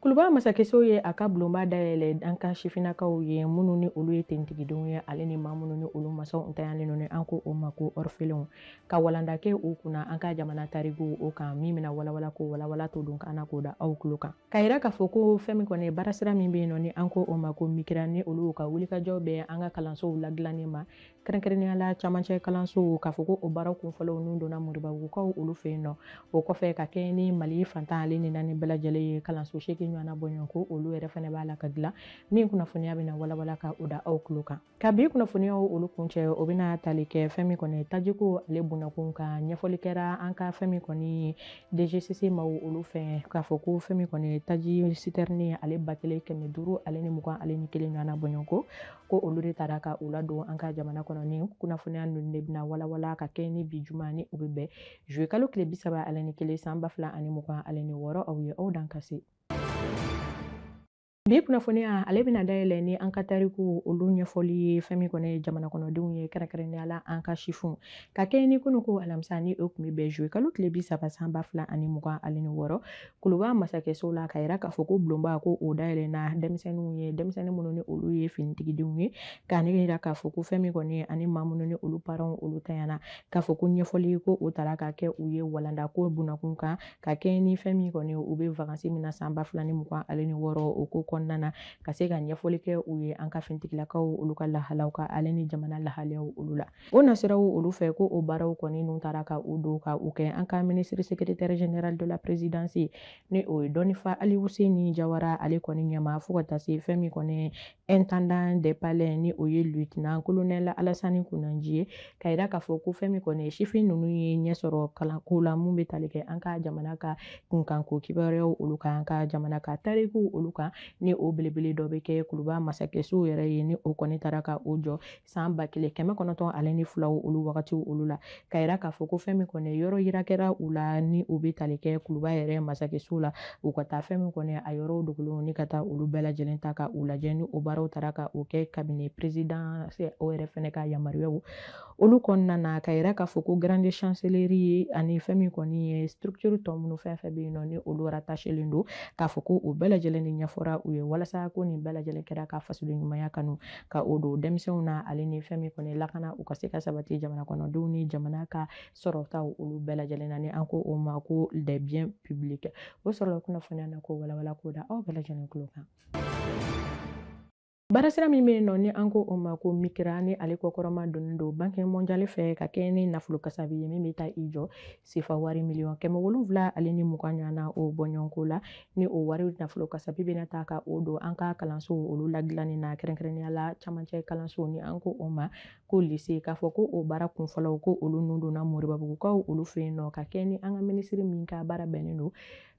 kuluba masakɛso ye a ka bulonba dayɛlɛ an ka sifinnakaw ye minnu ni olu ye finitigidenw ye ale ni maa minnu ni olu masaw ntanyalen don ni an ko o ma ko orphelinw ka walanda kɛ u kunna an ka jamana tariku o kan min bɛna walawala ko walawalatɔ don ka na k'o da aw tulo kan Ka yira k'a fɔ ko fɛn min kɔni baarasira min bɛ yen nɔ ni an ko o ma ko MIQRA ni olu ka wulikajɔ bɛ an ka kalansow ladilanni ma kɛrɛnkɛrɛnnenya la camancɛ kalansow k'a fɔ ko o baara kunfɔlɔw n'u donna moribabugukaw olu fɛ yen nɔ o kɔfɛ ka kɛɲɛ ni mali fan tan ale ni naani bɛɛ lajɛlen ye kalanso seegin ɲɔgɔnna bɔɲɔgɔn ko olu yɛrɛ fɛnɛ b'a la ka dilan min kunnafoniya bɛna walawala ka o da aw tulo kan ka bi kunnafoniyaw olu kuncɛ o bɛna tali kɛ fɛn min kɔni tajiko ale bunakun ka ɲɛfɔli kɛra an ka fɛn min kɔni ye DGCC maaw olu fɛ k'a fɔ ko fɛn min kɔni taji sitɛrni ale ba kelen kɛmɛ duuru ale ni mugan ale ni kelen ɲɔgɔnna bɔɲɔgɔnko ko olu de taara ka u ladon an ka jamana kɔnɔ ni kunnafoniya ninnu de bɛna walawala ka kɛ ni bi juma ni o bɛ bɛn zuye kalo tile bi saba ale ni kelen san ba fila ani mugan ale ni wɔɔrɔ aw ye aw dan ka se Bi kunnafoniya ale bɛna dayɛlɛ ni an ka tariku olu ɲɛfɔli ye fɛn min kɔni ye jamana kɔnɔdenw ye kɛrɛnkɛrɛnnenya la an ka sifinw ka kɛ ni kunu ko alamisa ni o tun bɛ bɛn zuye kalo tile bi saba san ba fila ani mugan ale ni wɔɔrɔ kuluba masakɛso la ka yira k'a fɔ ko bulonba ko o dayɛlɛna denmisɛnninw ye denmisɛnnin minnu ni olu ye finitigidenw ye ka yira k'a fɔ ko fɛn min kɔni ye ani maa minnu ni olu paranw olu tanyana k'a fɔ ko ɲɛfɔli ko o taara ka kɛ u ye walanda ko bunakun kan ka kɛ ni fɛn min kɔni u bɛ vakansi min na san ba fila ni mugan ale ni wɔɔrɔ o ko kɔnɔna na ka se ka ɲɛfɔli kɛ u ye an ka fintigilakaw olu ka lahalaw kan ale ni jamana lahalaw olu la o nasiraw olu fɛ ko o baaraw kɔni n'u taara ka u don ka u kɛ an ka ministre secrétaire général de la présidence ni o ye dɔnnifa alifuseni jawara ale kɔni ɲɛma fo ka taa se fɛn min kɔni intendant des palais ni o ye lieutenant colonel Alassane Kunanji ye ka yira k'a fɔ ko fɛn min kɔni sifin ninnu ye ɲɛ sɔrɔ kalanko la mun bɛ tali kɛ an ka jamana ka kunkanko kibaruyaw olu kan an ka jamana ka tarikuw olu kan ni o belebele dɔ bɛ kɛ kuluba masakɛso yɛrɛ ye ni o kɔni taara ka o jɔ san ba kelen kɛmɛ kɔnɔntɔn ale ni fila olu wagati olu la ka yira k'a fɔ ko fɛn min kɔni yɔrɔ yira kɛra u la ni o bɛ tali kɛ kuluba yɛrɛ masakɛso la u ka taa fɛn min kɔni a yɔrɔw dogolenw ni ka taa olu bɛɛ lajɛlen ta ka u lajɛ ni o baaraw taara ka o kɛ cabinet président o yɛrɛ fɛnɛ ka yamaruyaw olu kɔnɔna na ka yira k'a fɔ ko grande chancellerie ye ani fɛn min kɔni ye structure tɔ minnu fɛn fɛn bɛ yen nɔ ni olu rattachelen don k'a fɔ ko o bɛɛ lajɛlen de ɲɛfɔra u ye walasa ko nin bɛɛ lajɛlen kɛra ka fasoden ɲumanya kanu ka o don denmisɛnw na ale ni fɛn min kɔni lakana u ka se ka sabati jamana kɔnɔdenw ni jamana ka sɔrɔtaw olu bɛɛ lajɛlen na ni an ko o ma ko les biens publics o sɔrɔla kunnafoniya na k'o walawala k'o da aw bɛɛ lajɛlen tulo kan baarasira min bɛ yen nɔ ni an ko o ma ko mikira ni ale kɔkɔrɔma donnen don banque mondiale fɛ ka kɛ ni nafolo kasabi ye min bɛ taa i jɔ sefa wari miliyɔn kɛmɛ wolonwula ale ni mugan ɲɔgɔnna o bɔɲɔgɔnko la ni o wari nafolo kasabi bɛna taa ka o don an ka kalansow olu ladilanni na kɛrɛnkɛrɛnnenya la camancɛ kalanso ni an ko o ma ko lise k'a fɔ ko o baara kunfɔlɔw ko olu nun donna moribabugukaw olu fɛ yen nɔ ka kɛ ni an ka minisiri min ka baara bɛnnen don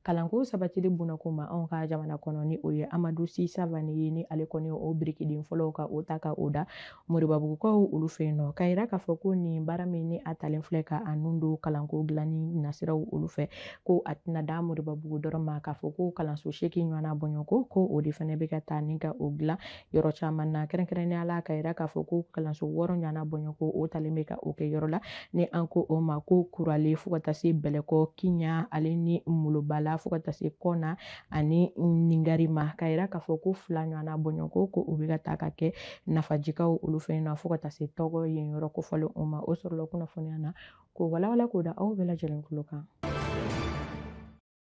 kalanko sabatili bunakun ma anw ka jamana kɔnɔ ni o ye amadu si savane ye ni ale kɔni o birikiden fɔlɔw ka o ta ka o da moribabugukaw olu fɛ yen nɔ k'a yira k'a fɔ ko nin baara min ni a talen filɛ ka a nun don kalanko dilanni nasiraw olu fɛ ko a tɛna dan moribabugu dɔrɔn ma k'a fɔ ko kalanso seegin ɲɔgɔnna bɔɲɔgɔnko ko o de fana bɛ ka taa ni ka o dilan yɔrɔ caman na kɛrɛnkɛrɛnnenya la ka yira k'a fɔ ko kalanso wɔɔrɔ ɲɔgɔnna bɔɲɔgɔnko o talen bɛ ka o kɛ yɔrɔ la ni an ko o ma ko kurale fo ka taa se bɛlɛkɔ kiɲan ale ni molobala fo ka taa se kɔna ani ningari ma ka yira k'a fɔ ko fila ɲɔgɔnna bɔɲɔgɔnko o bɛ ka taa ka kɛ nafajikaw olu fɛ yen nɔ fo ka taa se tɔgɔ yen yɔrɔ kofɔlen o ma o sɔrɔla kunnafoniya na k'o walawala k'o da aw bɛɛ lajɛlen tulo kan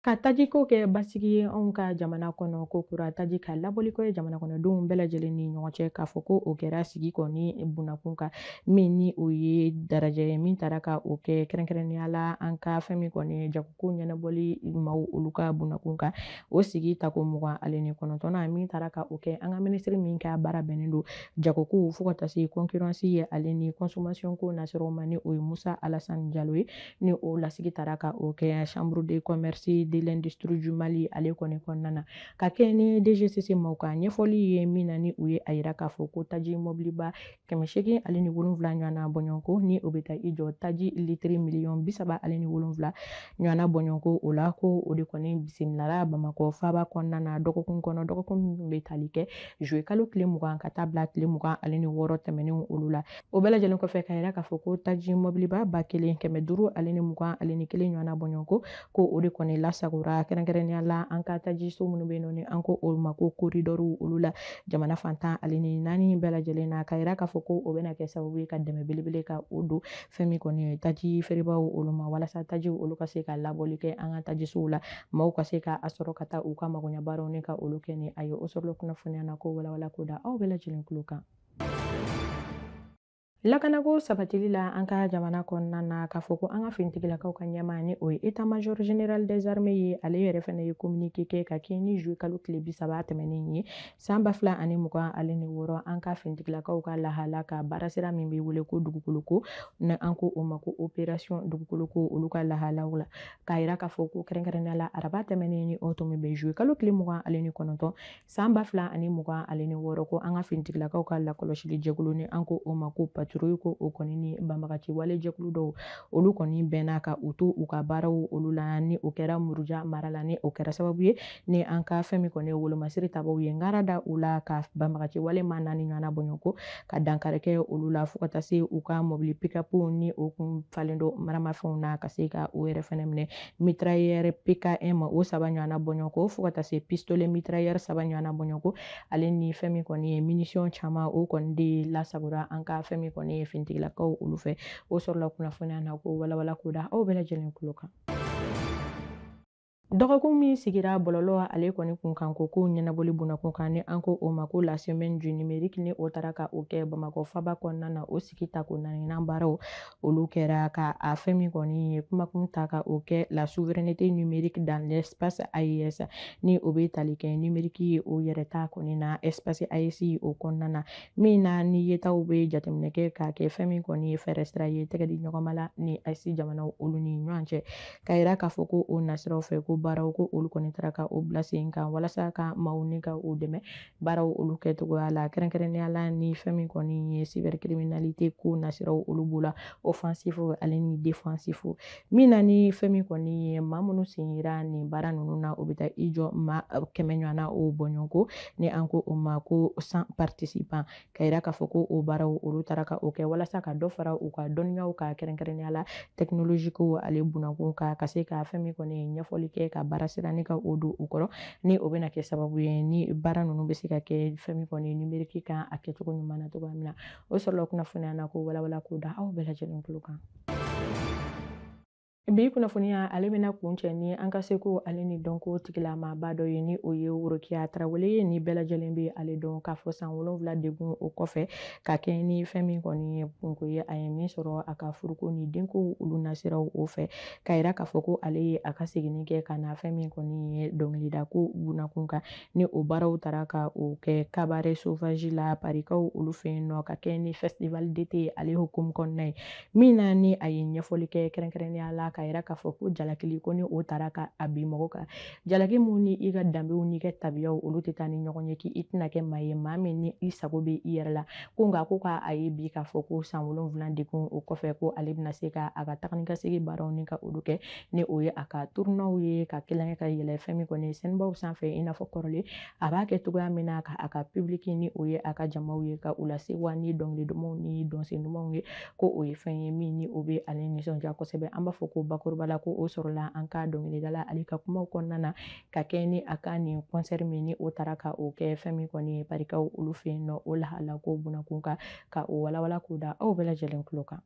Ka tajiko kɛ basigi ye anw ka jamana kɔnɔ kokura taji ka labɔli kɛ jamana kɔnɔdenw bɛɛ lajɛlen ni ɲɔgɔn cɛ k'a fɔ ko o kɛra sigi kɔni bunakun kan min ni o ye dalajɛ ye min taara ka o kɛ kɛrɛnkɛrɛnnenya la an ka fɛn min kɔni ye jagoko ɲɛnabɔli maaw olu ka bunakun kan o sigi tako mugan ale ni kɔnɔntɔnna min taara ka o kɛ an ka minisiri min ka baara bɛnnen don jagokow fo ka taa se kɔnkirɔnsi ye ale ni kɔnsomasiyɔnko nasiraw ma ni o ye musa alasani jalo ye ni o lasigi taara ka o kɛ chambre de commerce de l'industrie du Mali ale kɔni kɔnɔna na ka kɛ ni DGCC maaw ka ɲɛfɔli ye min na ni u ye a yira k'a fɔ ko taji mɔbiliba kɛmɛ seegin ale ni wolonwula ɲɔgɔnna bɔɲɔgɔnko ni o bɛ taa i jɔ taji litiri miliyɔn bi saba ale ni wolonwula ɲɔgɔnna bɔɲɔgɔnko o la ko o de kɔni bisimilara Bamakɔ faaba kɔnɔna na dɔgɔkun kɔnɔ dɔgɔkun min bɛ tali kɛ juillet kalo tile mugan ka taa bila tile mugan ale ni wɔɔrɔ tɛmɛnenw olu la o bɛɛ lajɛlen kɔfɛ ka yira k'a fɔ ko taji mɔbiliba ba kelen kɛmɛ duuru ale ni mugan ale ni kelen ɲɔgɔnna bɔɲɔgɔnko ko o de kɔni lasagora kɛrɛnkɛrɛnnenya la an ka tajiso minnu bɛ yen nɔ ni an ko olu ma ko koridɔriw olu la jamana fan tan ale ni naani bɛɛ lajɛlen na ka yira k'a fɔ ko o bɛna kɛ sababu ye ka dɛmɛ belebele ka o don fɛn min kɔni ye taji feerebaw olu ma walasa tajiw olu ka se ka labɔli kɛ an ka tajisow la maaw ka se ka a sɔrɔ ka taa u ka magoɲɛbaaraw ni ka olu kɛ ni a ye o sɔrɔla kunnafoniya na k'o walawala k'o da aw bɛɛ lajɛlen tulo kan lakanako sabatili la an ka jamana kɔnɔna na k'a fɔ ko an ka finitigilakaw ka ɲɛmaa ni o ye état major général des armées ye ale yɛrɛ fɛnɛ ye communiqué kɛ ka kɛɲɛ ni juillet kalo tile bisaba tɛmɛnen ye san ba fila ani mugan ale ni wɔɔrɔ an ka finitigilakaw ka lahala ka baarasira min bɛ wele ko dugukoloko ni an ko o ma ko opération dugukoloko olu ka lahalaw la k'a yira k'a fɔ ko kɛrɛnkɛrɛnnenya la araba tɛmɛnen ni o tun bɛnnen bɛ juillet kalo tile mugan ale ni kɔnɔntɔn San ba fila ani mugan ale ni wɔɔrɔ ko an ka finitigilakaw ka lakɔlɔsili jɛkulu ni an ko o ma ko patrouille ko o kɔni ni banbagaci wale jɛkulu dɔw olu kɔni bɛnna ka u to u ka baaraw olu la ni o kɛra muruja mara la ni o kɛra sababu ye ni an ka fɛn min kɔni ye wolomasiri tabaw ye ngara da u la ka banbagaci wale maa naani ɲɔgɔnna bɔɲɔgɔnko ka dankari kɛ olu la fo ka taa se u ka mɔbili pick-up ni o tun falen don maramafɛnw na ka se ka o yɛrɛ fɛnɛ minɛ mitrailleur PKM o saba ɲɔgɔnna bɔɲɔgɔnko fo ka taa se pistolet mitrailleur saba ɲɔgɔnna bɔɲɔgɔnko ale ni fɛn min kɔni ye munition caman o kɔni de lasagora an ka fɛn min kɔni ye finitigilakaw olu fɛ o sɔrɔla kunnafoniya na ko walawala ko da aw bɛɛ lajɛlen tulo kan dɔgɔkun min sigira bɔlɔlɔ ale kɔni kun kan ko kow ɲɛnabɔli bunakun kan ni an ko o ma ko la semaine du numérique ni o taara ka o kɛ bamakɔ faba kɔnɔna na o sigi tako naaninan baaraw olu kɛra ka a fɛn min kɔni ye kumakun ta ka o kɛ la souveraineté numérique dans l'espace AES ni o bɛ tali kɛ numérique ye o yɛrɛ ta kɔni na espace AES o kɔnɔna na min na ni yetaw bɛ jateminɛ kɛ k'a kɛ fɛn min kɔni ye fɛɛrɛ sira ye tɛgɛ di ɲɔgɔnma la ni AES jamanaw olu ni ɲɔgɔn cɛ k'a yira k'a fɔ ko o nasiraw fɛ ko baaraw ko olu kɔni taara ka o bila sen kan walasa ka maaw ni ka u dɛmɛ baaraw olu kɛcogoya la kɛrɛnkɛrɛnnenya la ni fɛn min kɔni ye cybercriminalité ko nasiraw olu b'o la offensif ale ni défensif min na ni fɛn min kɔni ye maa minnu sen yera nin baara ninnu na o bɛ taa i jɔ maa kɛmɛ ɲɔgɔnna o bɔɲɔgɔnko ni an ko o ma ko cent participants k'a yira k'a fɔ ko o baaraw olu taara ka o kɛ walasa ka dɔ fara u ka dɔnniyaw kan kɛrɛnkɛrɛnnenya la technologie ko ale bunakun kan ka se ka fɛn min kɔni ye ɲɛfɔli kɛ ka baara sira ni ka o don u kɔrɔ ni o bɛna kɛ sababu ye ni baara ninnu bɛ se ka kɛ fɛn min kɔni numérique kan a kɛcogo ɲuman na cogoya min na o sɔrɔla kunnafoniya na ko walawala ko da aw bɛɛ lajɛlen tulo kan Bi kunnafoniya ale bɛna kuncɛ ni an ka seko ale ni dɔnko tigilamaaba dɔ ye ni o ye worokiya tarawele ye ni bɛɛ lajɛlen bɛ ale dɔn k'a fɔ san wolonwula degun o kɔfɛ ka kɛ ni fɛn min kɔni ye kunko ye a ye min sɔrɔ a ka furuko ni denko olu nasiraw o fɛ k'a yira k'a fɔ ko ale ye a ka seginni kɛ ka na fɛn min kɔni ye dɔnkilidako bunakun kan ni o baaraw taara ka o kɛ cabaret sauvage la parikaw olu fɛ yen nɔ ka kɛ ni festival d'été ale hukumu kɔnɔna ye min na ni a ye ɲɛfɔli kɛ kɛrɛnkɛrɛnnenya la k'a yira k'a fɔ ko jalakili ko ni o taara ka a bin mɔgɔ kan jalaki min ni i ka danbew n'i ka tabiyaw olu tɛ taa ni ɲɔgɔn ye k'i tɛna kɛ maa ye maa min ni i sago bɛ i yɛrɛ la ko nka ko k'a ye bi k'a fɔ ko san wolonwula degun o kɔfɛ ko ale bɛna se ka a ka taga ni ka segin baaraw ni ka olu kɛ ni o ye a ka turunew ye ka kelenkɛ ka yɛlɛ fɛn min kɔni ye sɛnbaw sanfɛ i n'a fɔ kɔrɔlen a b'a kɛ cogoya min na ka a ka pibiliki ni o ye a ka jamaw ye ka u lasewa ni dɔnkili dumanw ni dɔnsen dumanw ye ko o ye fɛn ye min ni o bɛ ale nisɔndiya kosɛbɛ an b'a fɔ ko bakuruba la ko o sɔrɔla an ka dɔnkilidala ale ka kumaw kɔnɔna na ka kɛ ni a ka nin kɔnsɛri min ni o taara ka o kɛ fɛn min kɔni ye parikaw olu fɛ yen nɔ o lahala ko bunakun kan ka o walawala k'o da aw bɛɛ lajɛlen tulo kan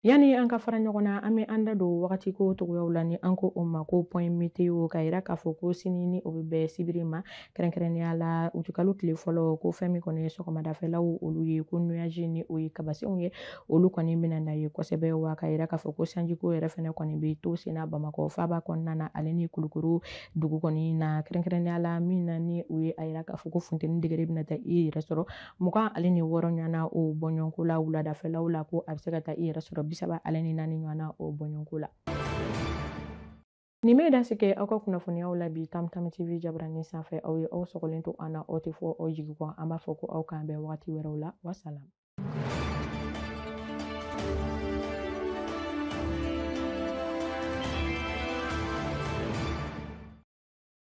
Yanni an ka fara ɲɔgɔn na an bɛ an da don wagati ko cogoyaw la ni an ko o ma ko puwɛn meteo k'a yira k'a fɔ ko sini ni o bɛ bɛn sibiri ma kɛrɛnkɛrɛnnenya la utikalo tile fɔlɔ ko fɛn min kɔni ye sɔgɔmadafɛlaw olu ye ko nuyaji ni o ye kabasenw ye olu kɔni bɛna na ye kosɛbɛ wa k'a yira k'a fɔ ko sanjiko yɛrɛ fana kɔni bɛ to senna bamakɔ faaba kɔnɔna na ale ni kulukɔrɔ dugu kɔni na kɛrɛnkɛrɛnnenya la min na ni o ye a yira k'a fɔ ko funteni degere bɛna taa i yɛrɛ sɔrɔ mugan ale ni wɔɔrɔ ɲɔgɔnna o bɔɲɔgɔnko la wuladafɛlaw la ko a bɛ se ka taa i yɛrɛ sɔrɔ bisaba ale ni naani ɲɔgɔnna o bɔɲɔgɔnko la nin bɛ dan sigi aw ka kunnafoniyaw la bi tam tam tv jabaranin sanfɛ aw ye aw sɔgɔlen to an na aw tɛ fɔ aw jigi kɔ an b'a fɔ ko aw k'an bɛn wagati wɛrɛw la wasalam